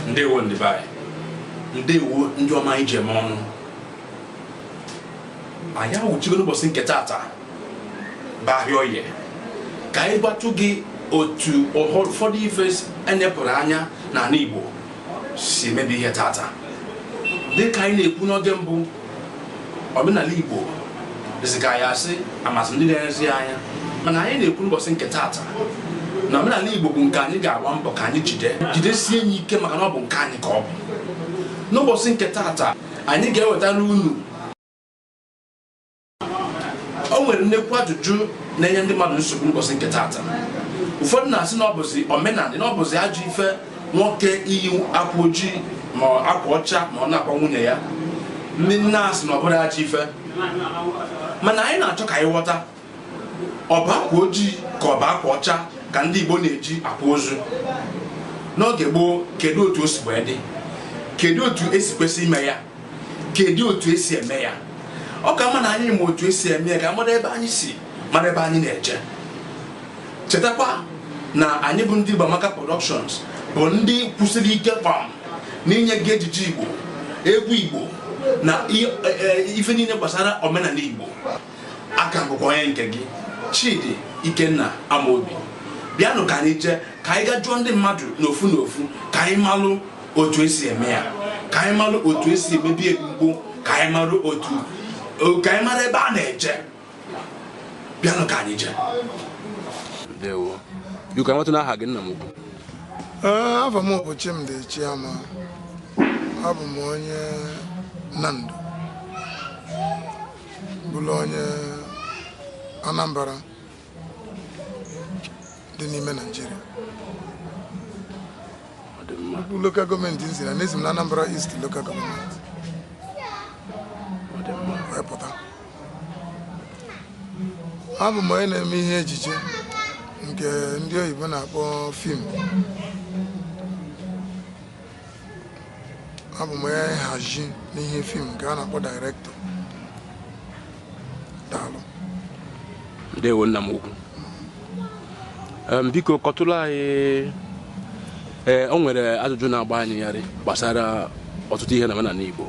ndewo ndị be anyị ndewo ndị ọma anyị ji eme ọnụ anyị awụchigo n'ụbọchị nke tata bụ ahịa oye ka anyị gbatụ gị otu ụfọdụ ife e nepụrụ anya n'ala Igbo si emebi ihe tata dịka anyị na-ekwu n'oge mbụ omenala Igbo dịzịka ya asị amazị ndị na-elezi anya mana anyị na-ekwu n'ụbọchị nke taata na omenala Igbo bụ nke anyị ga-agba mbọ ka anyị jide jidesie ya ike maka na ọ bụ nke anyị ka ọ bụ n'ụbọchị nke taata anyị ga-ewetara unu o nwere nnekwu ajụjụ na-enye ndị mmadụ nsogbu n'ụbọchị nke taata ụfọdụ na-asị na ọ bụzi omenala na ọ bụzi ajọ ife nwoke iyi akwa ojii ma akwa ọcha ma ọ na-akwa nwunye ya ndị na-asị na ọ bụrọ ajọ ife mana anyị na-achọ ka anyị ghọta ọ bụ akwa ojii ka ọ bụ akwa ọcha ka ndị Igbo na-eji akwa ozu n'oge gboo kedu otu o si wee dị kedu otu esi kwesị ime ya kedu otu esi eme ya ọ ka mma na anyị ma otu esi eme ya ka mara ebe anyị si mara ebe anyị na-eje chetakwa na anyị bụ ndị Igbo Amaka Productions bụ ndị kwụsịrị ike kpam n'inye gị ejije Igbo egwu Igbo na i- e- e- ife niile gbasara omenala Igbo aka m bụkwa onye nke gị Chidi Ikenna Amaobi bịanụ ka anyị jee ka anyị gaa jụọ ndị mmadụ n'ofu n'ofu ka anyị malụ otu esi eme ya ka anyị malụ otu esi emebu ya oge gboo ka anyị malụ otu ka anyị mara ebe a na-eje bịanụ ka anyị jee ndewo biko amatụ n'aha gị nna m ukwu afa m bụ Chimdi Chiama abụ m onye Nando bụrụ onye Anambra dị n'ime Naịjirịa bụ lokal gọọmenti m si na esi m na Anambra East lokal gọọmenti wee pụta abụ m onye na-eme ihe ejije nke ndị oyibo na-akpọ fim abụ m onye nhazi n'ihe fim nke a na-akpọ dairektọ daalụ ndewo nna m ukwu Em, biko kọtụrụ anyị ee o nwere ajụjụ na-agba anyị yarị gbasara ọtụtụ ihe na omenala Igbo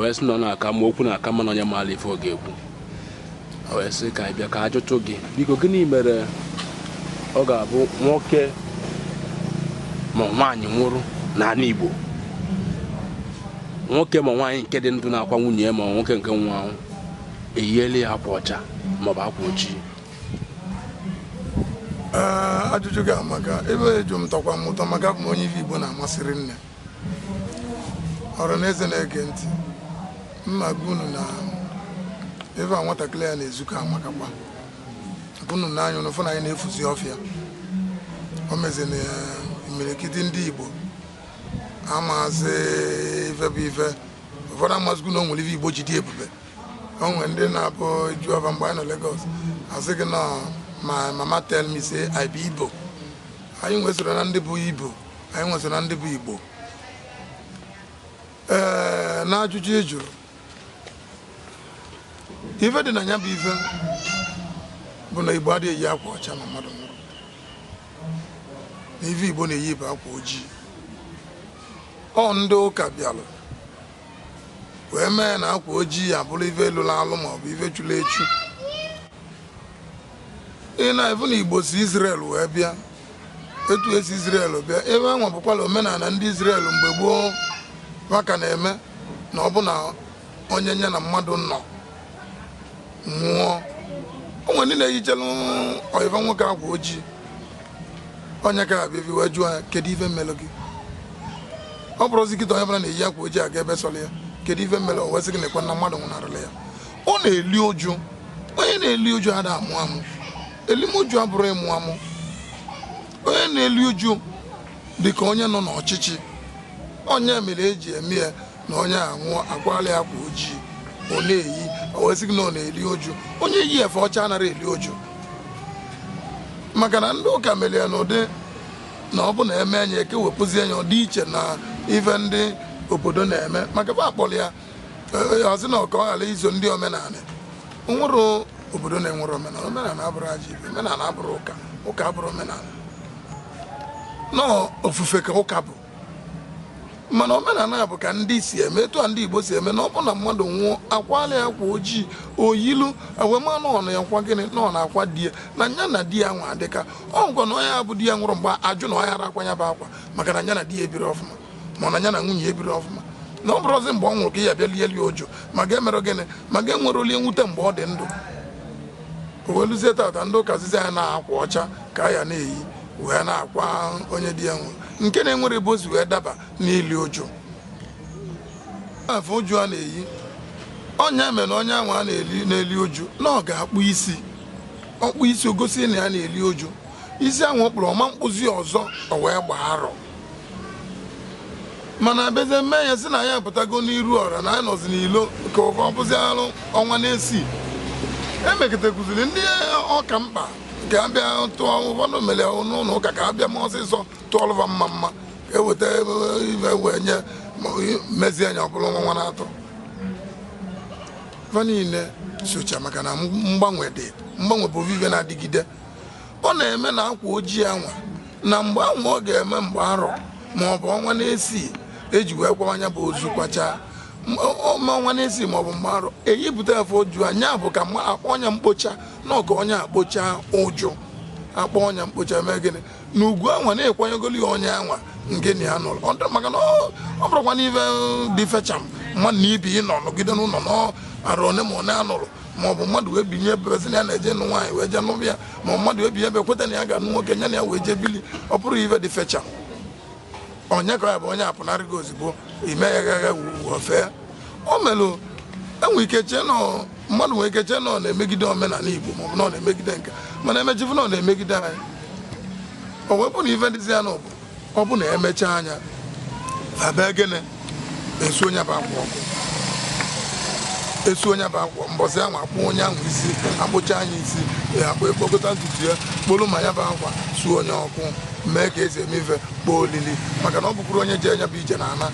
wee sị na ọ na-aka mma okwu na-aka mma na onye maara ife ọ ga-ekwu wee sị ka anyị bịa ka a jụtụ gị biko gịnị mere ọ ga-abụ nwoke ma nwaanyị nwụrụ n'ala Igbo nwoke ma nwaanyị nke dị ndụ na-akwa nwunye ya ma nwoke nke nwa ahụ eyiela ya akwa ọcha maọbụ akwa ojii ajụjụ gị amaka ife ị jụ m tọkwa m ụtọ maka ị bụ onye ife Igbo na-amasị rinne ọra n'eze na-ege ntị m na-agwa unu na ife nwatakịrị a na-ezukọ amakakwa unu n'anya unu fụ na anyị na-efuzi ọfịa o mezi na imirikiti ndị Igbo amazi ife bụ ife ụfọdụ amazikwu na o nwere ife Igbo ji dị ebube o nwere ndị na-abụ a jụọ fa mgbe anyị nọ Lagos asị gị na my mama tell me say I be Igbo anyị wee soro na ndị bụ Igbo anyị wee sị na ndị bụ Igbo ee n'ajụjụ ị jụrụ ife dị na ya bụ ife bụ na Igbo adịghị eyi akwa ọcha na mmadụ nwụrụ na ife Igbo na-eyi bụ akwa ojii ọ ndị ụka bịalụ wee mee na akwa ojii abụrụ ife lụlụ alụ maọbụ ife chulu echu ị na-afụ na Igbo si Izrel wee bịa etu e si Izrel bịa ebe anwa bukwalụ omenala ndị Izrel mgbe gboo fa ka na-eme na ọ bụ na onye nya na mmadụ nọ nwụọ o nwere ndị na-eyichelu ọyị fa nwoke akwa ojii onye ka abịa ebi wee jụọ ya kedu ife melụ gị ọ bụrụzi kịta onye bụla na-eyi akwa ojii aga ebe sọrọ ya kedu ife melụ o wee sị gị nekwe na mmadụ nwụnarịlị ya ọ na-eli uju onye na-eli uju ada amụ amụ elim uju abụrọ ịmụ amụ onye na-eli uju dị ka onye nọ n'ọchịchị ọ nya mere e ji eme ya na onye anwụọ akwala ya akwa ojii ọ na-eyi o wee sị gị na ọ na-eli uju onye yi efe ọcha anaghị eli uju maka na ndị ụka mere ya n'ụdị na ọ bụ na e mee nya ekewepụzie ya ọ dị iche na ife ndị obodo na-eme maka fa kpọrọ ya asị na ọ ka ọ ghara iso ndị omenala nwerọ obodo na-enwerọ omenala omenala abụrọ ajọ ife omenala abụrọ ụka ụka abụrọ omenala na ofufe ka ụka bụ mana omenala bụ ka ndị si eme etu a ndị Igbo si eme na ọ bụ na mmadụ nwụọ akwala ya akwa ojii o yilu e wee malụ ọnụ ya kwa gịnị na ọ na-akwa di ya na nya na di ya nwa adịka ọ ngwa na onye ya bụ di ya nwụrụ mgbe ajụ na ọ yarọ akwa ya bụ akwa maka na nya na di ya ebirọ ọfụma mana ya na nwunye ebiri ọfụma na ọ bụrụzi mgbe ọ nwụrụ ka ya bịa lie ili uju ma ga-emere gịnị ma ga-enwere obi nwute mgbe ọ dị ndụ o weluzie tata ndị ụka zizi ya na akwa ọcha ka ya na-eyi wee na-akwa onye di ya nwụrụ nke na-enwere ebe o si wee daba n'ili uju efe uju a na-eyi ọ nya mere na onye ahụ a na-eli uju na ọ ga-akpụ isi ọ kpụ isi o gosi na ya na-eli uju isi ahụ ọ kpụrụ ọ ma mkpụzi ọzọ o wee gbaa arọ mana a bịazie mee ya sị na anyị apụtago n'iru ọra na anyị nọzi n'ilo ka ọ bụzi arọ ọnwa n'isii emekọtakụziri ndị ọ ka mkpa ka a bịa tụọ ụfọdụ mere n'ụlọ ụka ka a bịa mee ọsịsọ tụọlụ va mma mma ka e weta ive wee nye mezie nya ọ bụlụ ọnwa n'atọ fa niile socha maka na mgbanwe dị mgbanwe bụ ive na-adịgide ọ na-eme na akwa ojii anwa na mgbe anwa ọ ga-eme mgbe arọ ma ọ bụ ọnwa n'isii e ji wee kwaa nya bụ ozu kwachaa ọnwa n'isii ma ọ bụ mgbe arọ eyipụta efe uju nya bụ ka a kpọọ nya mkpocha na ọ ka onye akpocha uju a kpọọ nya mkpocha mee gịnị na ugwu anwa na ekwanyegolu ya onye anwa nke na ya nụrụ maka na ọ ọ bụrọkwanụ ife dị fecham mmadụ na ibe ịnọ nọgide n'ụlọ na arọ one ma one a nụrụ ma ọ bụ mmadụ wee binye ebe sị na ya na-eje nụ nwaanyị wee jee nụba ya ma ọ mmadụ wee binye ebe kweta na ya ga-anụ nwoke nya na ya wee jee bili ọ bụrọ ive dị fecha ọ nya ka ya bụ onye apụnarịgo ozugbo ime ya gagha ofee o melụ enwe ike chee na ọ mmadụ nwere ike chee na ọ na-emegide omenala igbo ma ọ bụ na ọ na-emegide nke mana emechifu na ọ na-emegide anyị o wepụ na ive dịzi ya na ọ bụ ọ bụ na e mechaa nya a bịa gịnị esuo nya bụ akwa ọkụ esuo nya bụ akwa mbọsị ahụ akpụ onye ahụ isi akpụchaa nya isi ya akpụ ekpokọta ntutu ya kpolu ma ya bụ akwa suo nya ọkụ mee ka esi eme ife kpọọ olili maka na ọ bụkwurọ onye je nya bụ ije na-ana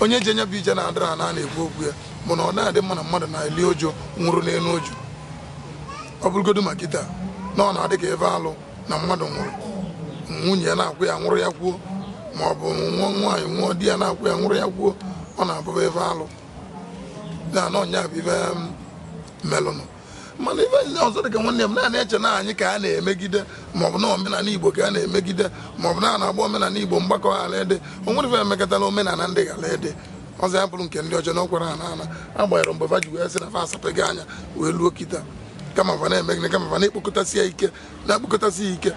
onye je nya bụ ije na-adịrọ ana na-ekwu okwu ya bụ na ọ da-adị mma na mmadụ na-eli uju nwụrụ n'elu uju ọ bụrụgodu ma kịta na ọ na-adị ka ive alụ na mmadụ nwụrụ nwunye ya na-akwa ya nwụrụ ya kwuo ma ọ bụ nwa nwaanyị nwụọ di ya na-akwa ya nwụrụ ya kwuo ọ na-abụba ife alụ na ọ nya bụ ife um, melụnụ mana ife ndị ọzọ dị ka nwanne m na anyị eche na anyị ka a na-emegide maọbụ na omenala igbo ka a na-emegide maọbụ na a na-agba omenala igbo mgbakọ ghara ede o nwere ife emekọtala omenala ndị ghara ede ọzọ ya bụrụ nke ndị ọcha na ọkwara ha n'ala agbanyeghị mgbe fa ji wee sị na fa asapụghị anya wee luo kịta kama fa na-eme gịnị kama fa na-ekpokọtasị ya ike na-ekpokọtasị ya ike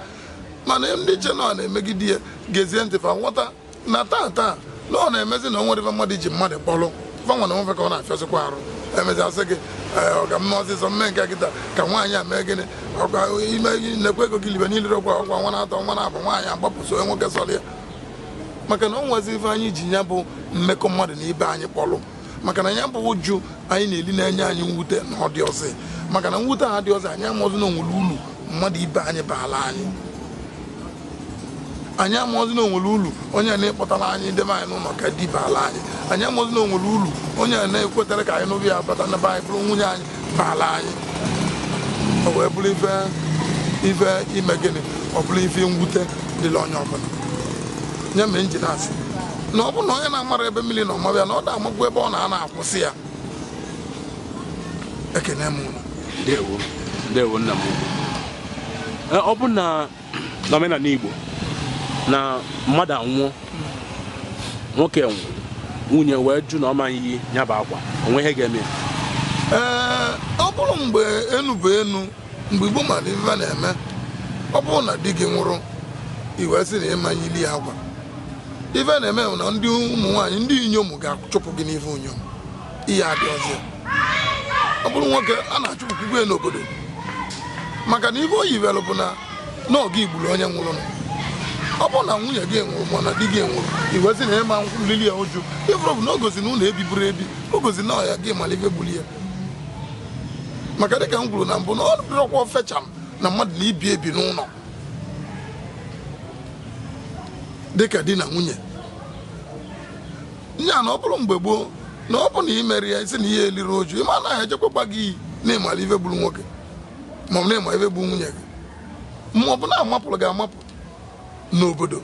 mana ndị che na ọ na-emegide ya gezie ntị fa nghọta na taa taa na ọ na-emezi na o nwerọ ife mmadụ ji mmadụ kpọrọ fa nwa na onwe fe ka ọ na-afịasịkwa arụ emezi asị gị Ee, ọ ka mma ọsịsọ mme nke kịta ka nwaanyị a mee gịnị ọkwa ime gị nekwa ego gị libe niile ọkwa ọkwa ọnwa na-atọ ọnwa na-abụọ nwaanyị agbapụ so onye nwoke sọrọ ya maka na o nwezi ife anyị ji ya bụ mmekọ mmadụ na ibe anyị kpọrọ maka na ya bụ uju anyị na-eli na-enye anyị mwute na ọ dịọzi maka na mwute ahụ adịọzi anyị amaọzi na o nwere ulu mmadụ ibe anyị baala anyị anyị amaọzi na o nwere ulu onye a na-ekpọtara anyị debe anyị n'ụnọ ka di baala anyị anyị amaọzi na o nwere ulu onye a na-ekwetara ka anyị nụba ya bata na be anyị bụrụ nwunye anyị baala anyị o wee bụrụ ife ife ime gịnị ọ bụrụ ife mwute dịlị onye ọbụla nya mere m ji na-asị na ọ bụrụ na onye na-amarọ ebe mmiri nọ mabe ya na ọ da amakwu ebe ọ na-anọ akwụsị ya ekene m unu ndewo ndewo nna m ọ bụ na n'omenala Igbo na mmadụ anwụọ nwoke nwụọ nwunye wee jụ na ọ ma-eyi ya bụ akwa o nwe ihe ga-eme ya ee ọ bụrụ mgbe enu bụ enu mgbe Igbo mara ife a na-eme ọ bụrụ na di gị nwụrụ i wee sị na ị ma nyili ya akwa ife a na-eme bụ na ndị ụmụ nwaanyị ndị inyom ga-achụpụ gị n'ife inyom ihe adị ọzọ ọ bụrụ nwoke a na-achụpụkwukwe ya n'obodo maka na ihe o yiwere bụ na ọ gị gburu onye nwụrụ ọ bụrụ na nwunye gị nwụrụ ma na di gị nwụrụ i wee sị na ị ma nlili ya uju ị fụrụ bụ na o gosi na unu ebiburo ebi o gosi na ọ gị mara ife gburu ya maka dịka m kwuru na mbụ na ọ dịrọkwa ofecha m na mmadụ na ibe ebi n'ụlọ dịka di na nwunye nya na ọ bụrụ mgbe gboo na ọ bụ na ị mere ya isi na ị ya-eliri uju ị ma na a ga-ejekwa gba gị iyi na ị mara ife gburu nwoke maọbụ na ị ma ife gburu nwunye gị ma ọ bụ na amapụrụ gị amapụ n'obodo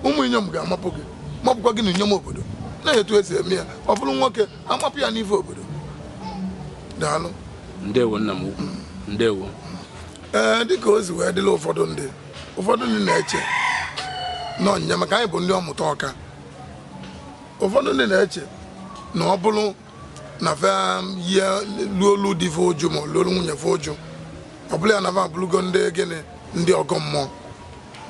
ụmụ inyom ga-amapụ gị mapụkwa gị na inyom obodo na etu e si eme ya ọ bụrụ nwoke amapụ ya n'ife obodo daalụ ndewo nna m ukwu ndewo ee dịka o si wee dịla ụfọdụ ndị ụfọdụ ndị na-eche na ọnyịnya maka anyị bụ ndị ọmụta ọka ụfọdụ ndị na-eche na ọ bụrụ na fe yie luolu di fe uju ma luolu nwunye fe uju ọ bụlụ ya na fa abụrụgo ndị gịnị ndị ọgọ mmụọ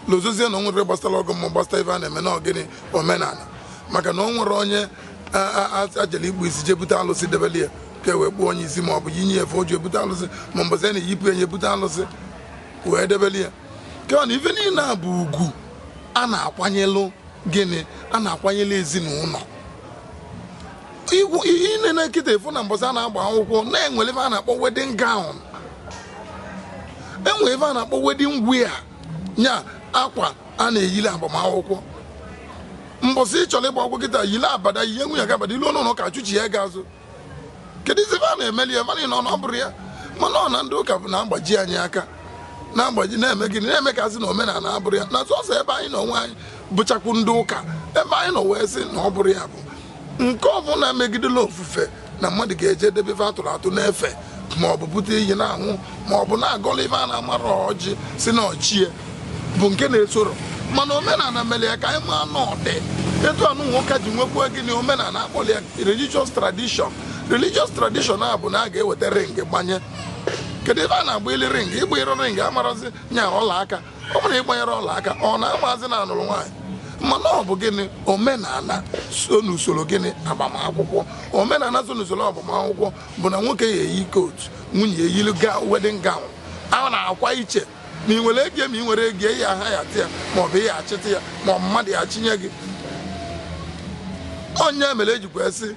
lozozie na o nwerọ gbasara ọgọ mmụọ gbasara ife a na-eme na ọ gịnị omenala maka na o nwerọ onye a- a- a- a jele ikpụ isi jee bute alụsị debeli ya ka e wee kpụọ onye isi ma ọ bụ yinye ya efe uju ebute alụsị ma mbọsị a na-eyipụ ya ebute alụsị wee debeli ya kama na ife niile a bụ ugwu a na-akwanyelụ gịnị a na-akwanyelụ ezinụlọ ị nenee kịta ị fụ na mbọsị a na-agba akwụkwọ na-enwere ife a na-akpọ wedding gown enwere ife a na-akpọ wedding wear nya akwa a na-eyili agbamakwụkwọ mbọsị ị chọrọ ịgba akwụkwọ kịta yili abada yie nwunye gị abada i luo n'ụlọ ụka a chụchie gị azụ keduzi ife a na-emeli ya mara na ọ bụrọ ya mana ọ na ndị ụka bụ na-agbaji anyị aka na-agbaji na-eme gịnị na-eme ka a sị na omenala abụrọ ya na sọsọ ebe anyị n'onwe anyị bụchakwu ndị ụka ebe anyị nọ wee sị na ọ bụrọ ya bụ nke ọbụla megidelu ofufe na mmadụ ga-eje debe ife a tụrụ atụ na-efe ma ọ bụ bute iyi na-anwụ ma ọ bụ na-agọlụ ife a na-amarọ ọjị sị na ọ chi ya bụ nke na-esorọ mana omenala mere ya ka anyị maa na ọ dị etu anụnwa ka e ji nwekwa gịnị omenala a kpọrọ ya religious tradition religious tradition a bụ na a ga-eweta ring gbanye kedu ebe a na-agbayili ring ị gbayirọ ring amarọzi nya ọla aka ọ bụrụ ị gbanyere ọla aka ọ na-amazi na a nụrụ nwaanyị mana ọ bụ gịnị omenala so n'usoro gịnị agbamakwụkwọ omenala so n'usoro agbamakwụkwọ bụ na nwoke ya-eyi coat nwunye eyiri wedding gown a na-akwa iche ma ị nwere ego ma ị nwerọ ego ị ya-ahayata ya ma ọ bụ ị ya-achịta ya ma ọ mmadụ ya-achịnye gị onye mere e jikwa sị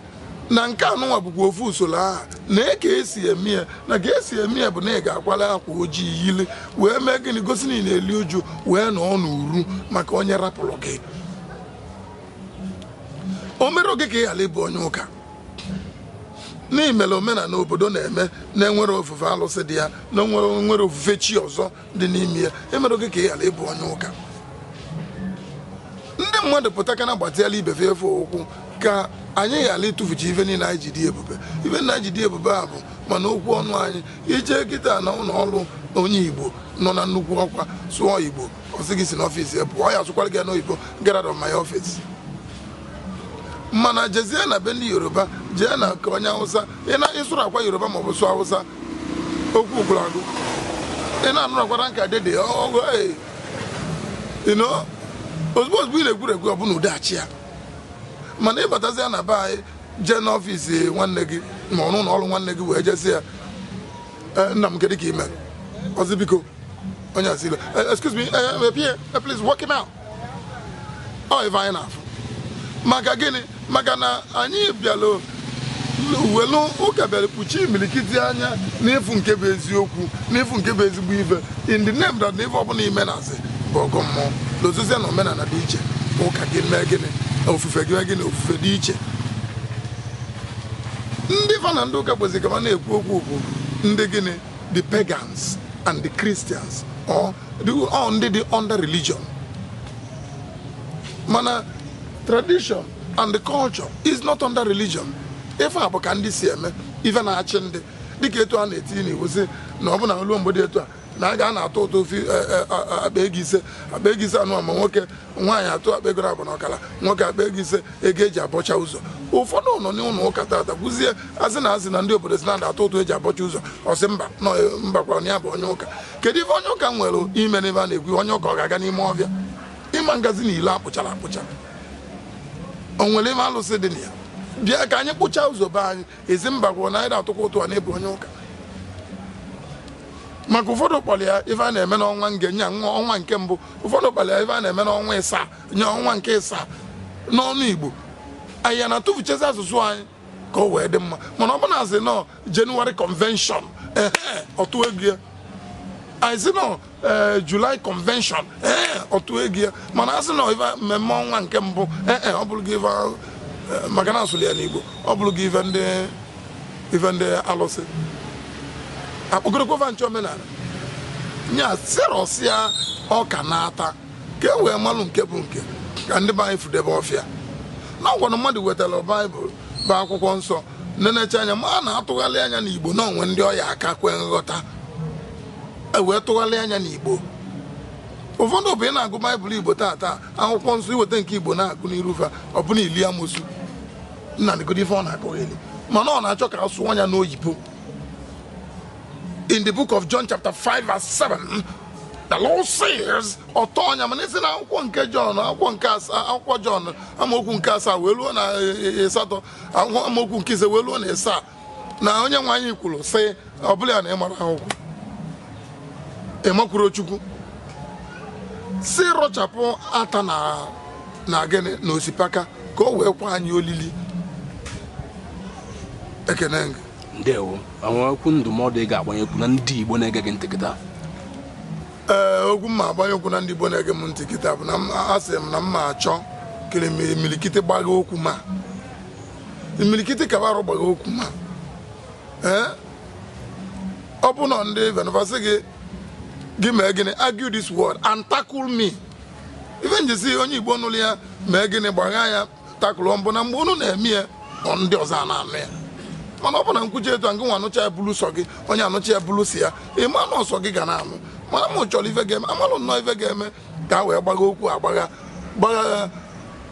na nke anụnwa bụkwa ofu usoro ahụ na e ka esi eme ya na ka esi eme ya bụ na ị ga-akwalụ akwa ojii yili wee mee gịnị gosi na ị na-eli uju wee nọọ n'uru maka onye rapụrụ gị o merọ gị ka ị ghara ịbụ onye ụka na i mere omenala obodo na-eme na-enwerọ ofufe alụsị dị ya na-enwerọ ofufe chi ọzọ dị n'ime ya emerọ gị ka ị ghara ịbụ onye ụka ndị mmadụ pụta ka na gbatịala ibe fa ụkwụ ka anyị ghara ịtụfucha ife niile anyị ji dị ebube ife anyị ji dị ebube a bụ ma n'okwu ọnụ anyị i jee kịta n'ụlọ ọrụ onye igbo nọ na nnukwu ọkwa sụọ igbo ọ sị gị si n'ọfịs ya pụọ ọ ya-asụkwara gị ya n'oyibo get out of my office mana jezie na be ndị yoruba jee na nke onye awụsa ị sụrụkwa yoruba maọbụ sụọ awụsa okwu gwụrụ agwụ ị na-anụrụkwa ranka dede ọ gwụ ozugbo ozugbo ị na-egwuru egwu o bunye gị oche ya mana ị batazịa na be anyị jee n'ọfịs nwanne gị ma ọ ụnọ ọrụ nwanne gị wee jezie eh, nna m kedu ka i mee ọ sị biko onye a si olee eh, excuse me eh, please walk him out ọ ife anyị na-afụ maka gịnị maka na anyị bịara welu ụka bịara kpuchie imirikiti anya n'ịfụ nke bụ eziokwu n'ịfụ nke bụ ezigbo ife in the name that na ife ọbụla i me na-asị bụ ọgọ mmụọ na ozizie na omenala dị iche ụka gị mee gịnị ofufe gị mee gịnị ofufe dị iche ndị fa na ndị ụka kwesị ka ma na-ekwu okwu bụ ndị gịnị the pagans and the Christians or the, all ndị dị under religion mana tradition and the culture is not under religion ife a bụ ka ndị si eme ife na-achị ndị dịka etu a na-etinye n'iwu sị na ọ bụ na o ruo mgbe dị etu a na a ga na-atụ ụtụ ofe akpa ego ise akpa ego ise anụ ma nwoke nwaanyị atụọ akpa ego abụọ na ọkara nwoke akpa ego ise ego eji abọcha ụzọ ụfọdụ nọ n'ụlọ ụka tata kwụzie a sị na a sị na ndị obodo sị na a ga-atụ ụtụ eji abọcha ụzọ ọ sị mba na mbakwara na ya bụ onye ụka kedu ife onye ụka nwere ime n'ebe a na-ekwu onye ụka ọ ga-aga n'ime ọfịa ọ ma na-agazi n'ilo akpụchara akpụcha o nwere ime alụsị dị na ya bịa ka anyị kpụchaa ụzọ be anyị ị sị mbakwa na ị da-atụkwa ụtụ a na ị bụ onye ụka maka ụfọdụ kpọrọ ya ife a na-eme n'ọnwa nge nye ọnwa nke mbụ ụfọdụ kpọrọ ya ife a na-eme n'ọnwa ịsaa nye ọnwa nke ịsaa n'onu Igbo anyị ya na-atụfuchezi asụsụ anyị ka o wee dị mma mana ọ bụ na a sị na ọ January convention ehe ọ tụọ ego ya anyị sị na ọ ee eh, July convention ee eh, ọ tụọ ego ya mana a sị na ife mmemme ọnwa nke mbụ ee eh, ọ bụrụ gị ife maka na a sụlụ ya n'Igbo ọ bụrụ gị ife ndị ife ndị alụsị a kpọgorokwa va ndị omenala nya sị rọsịa ọka na ata ka e wee malụ nke bụ nke ka ndị be anyị fudebe ọfịa na ọ kwanụ mmadụ wetara baịbụl bụ akwụkwọ nsọ nenecha anya ma na a tụgharịa nya n'Igbo na o nwee ndị ọ ya-aka kwe nghọta e wee tụgharịa nya n'Igbo ụfọdụ bụ ị na-agụ baịbụl Igbo taata akwụkwọ nsọ i weta nke Igbo na-agụ n'iru fa ọ bụ na i li amosu nna negodi ife ọ na-akọgheli mana ọ na-achọ ka a sụọ nya n'oyibo in the book of John chapter 5 verse 7 the Lord says ọ tọọ nya mana ị sị na akwụkwọ nke John akwụkwọ nke asaa akwụkwọ John amaokwu nke asaa wee ruo na asatọ amaokwu nke ise wee ruo na asaa na onye nwe anyị kwuru sị ọ bụlụ ya na ị mara akwụkwọ ị makwurọ Chukwu sị rọchapụ ata na na gịnị na osipaka ka o wee kwe anyị olili ekene gị ndewo o nwere okwu ndụmọdụ ị ga-agbanyekwu na ndị Igbo na-ege gị ntị kịta ee okwu m ma-agbanyekwu na ndị Igbo na-ege m ntị kịta bụ na m- asị m na m ma-achọ ka imilikiti gbagha okwu m a imirikiti ka arụ gbagha okwu m a ee ọ bụ na ndị venvasị gị gị mee gịnị argue this word and tackle me ife m ji sị onye Igbo nụrụ ya mee gịnị gbagha ya takụlụ m bụ na mgbe unu na-eme ya ọ ndị ọzọ ana-anụ ya mana ọ bụ na m kwuchaa etu a ngị nwa anụcha ya bụlụ sọ gị onye a nụcha ya bụlụ sọ ya ị ma na ọ sọ gị ga na-anụ mana m chọrọ ife ga-eme a malụ nnọọ ife ga-eme ka a wee gbagha okwu agbagha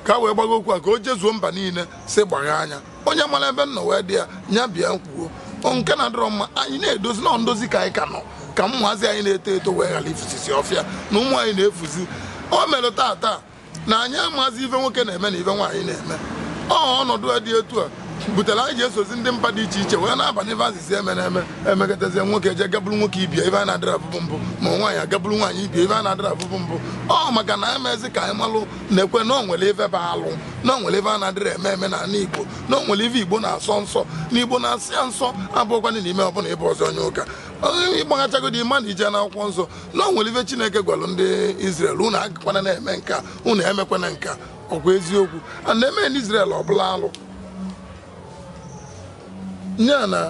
ka a wee gbagha okwu a ka o jezuo mba niile si gbagha anya onye malụ ebe nọ wee dị ya nya bịa kwuo nke na-adịrọ mma anyị na-edozi nọ ndozi ka anyị ka nọ ka ụmụazị anyị na-eto eto wee ghalụ ifusisi ọfịa na ụmụ anyị na-efuzi o mere taa taa na anyị amazi ife nwoke na-eme na ife nwaanyị na-eme ọ ọnọdụ dị etu a butere anyị ji esozi ndị mba dị iche iche wee na-aba n'ife a sịzi emena eme emekọtazie nwoke eje ga buru nwoke ibe ya ife a na-adịrọ afụbu mbụ ma nwaanyị aga buru nwaanyị ibe ya ife a na-adịrọ afụbu mbụ ọ maka na emezi ka anyị malụ na-ekwe na o nwere ife bụ alụ na o nwere ife a na-adịrọ eme eme n'ala igbo na o nwere ife igbo na-asọ nsọ na igbo na-asọ ya nsọ abụrọkwa na i mee ọ bụlụ na ị bụrọzi onye ụka ịgbaghachagodi ị ma na i je n'akwụkwọ nsọ na o nwere ife chineke gwalụ ndị Izrel unu agakwana na-eme nka unu emekwana nka ọkwa eziokwu a na-eme n'Israel ọ bụlụ alụ nya na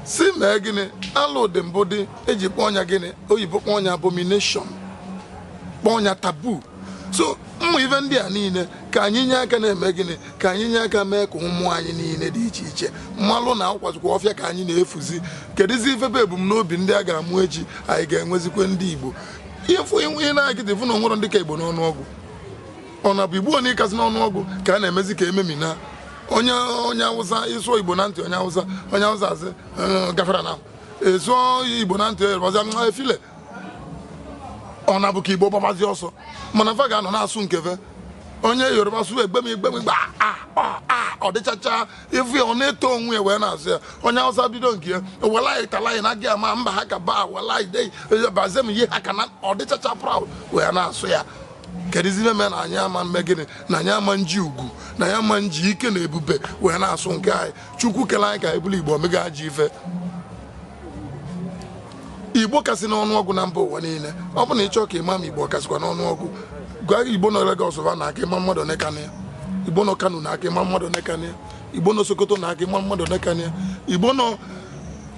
si mee gịnị alụ dị mbụ dị e ji kpọọ nya gịnị oyibo kpọọ nya abomination kpọọ nya taboo so ụmụ ife ndị a niile ka anyị nye aka na-eme gịnị ka anyị nye aka mee ka ụmụ anyị niile dị iche iche malụ na ọkwazikwa ọfịa ka anyị na-efuzi kedụzi ife bụ ebumnobi ndị a ga-amụ echi anyị ga-enwezikwa ndị Igbo ifu inwe ihe na-agịdị fụ na o nwerọ ndị ka Igbo n'ọnụọgụ ọ na bụ igbo anyị kasị n'ọnụọgụ ka a na-emezi ka e memina onye onye awụsa ị sụọ igbo na ntị onye awụsa onye awụsa asị "Eh, gafara na ị sụọ igbo na ntị yoruba "Mm, efile ọ na-abụ ka igbo gbabazi ọsọ mana fa ga-anọ na-asụ nke va onye yoruba sụọ egbem egbem gba a a a ọ dịchacha ifu ya ọ na-eto onwe ya wee na-asụ ya onye awụsa bido nke ya wallahi tallahi na gaya ma ba haka ba wallahi dai ba zan yi haka na ọ dịchacha proud wee na-asụ ya kedụzi ife mere na anyị ama mme gịnị na anyị ama nji ugwu na anyị ama nji ike na ebube wee na-asụ nke anyị chukwu kele anyị ka anyị bụrụ igbo o mego ajọ ife igbo kasị n'ọnụọgụ na mba ụwa niile ọ bụ na ị chọọ ka ị ma ma igbo kasịkwa n'ọnụọgụ gwa igbo nọ Lagos va naa ka ị ma mmadụ one ka nọ ya igbo nọ Kano naa ka ị ma mmadụ one ka nọ ya igbo nọ sokoto naa ka ị malụ mmadụ one ka nọ ya igbo nọ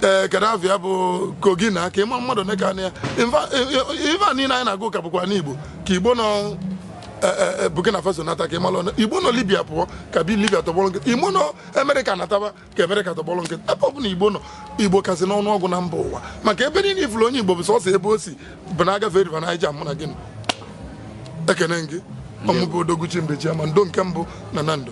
ee Gaddafi ya bụ kogi naa ka ị malụ mmadụ one ka nọ ya Infa- e- e- ife a niile anyị na-agụ ka bụkwa n'igbo ka igbo nọ e- e- e, Burkina Faso nata ka ị malụ ole igbo nọ Libya pụọ ka bi Libya tọgbọrọ nkịtị igbo nọ Amerịka nataba ka Amerịka tọgbọrọ nkịtị ebe ọ bụla igbo nọ igbo kasị n'ọnụ ọgụ na mba ụwa maka ebe niile ị fụlụ onye igbo bụ sọsọ ebe o si bụ na agafe River Niger mụ na gịnị ekene gị ọ mụ bụ odoguchi mbechi ama ndo nke mbụ na Nando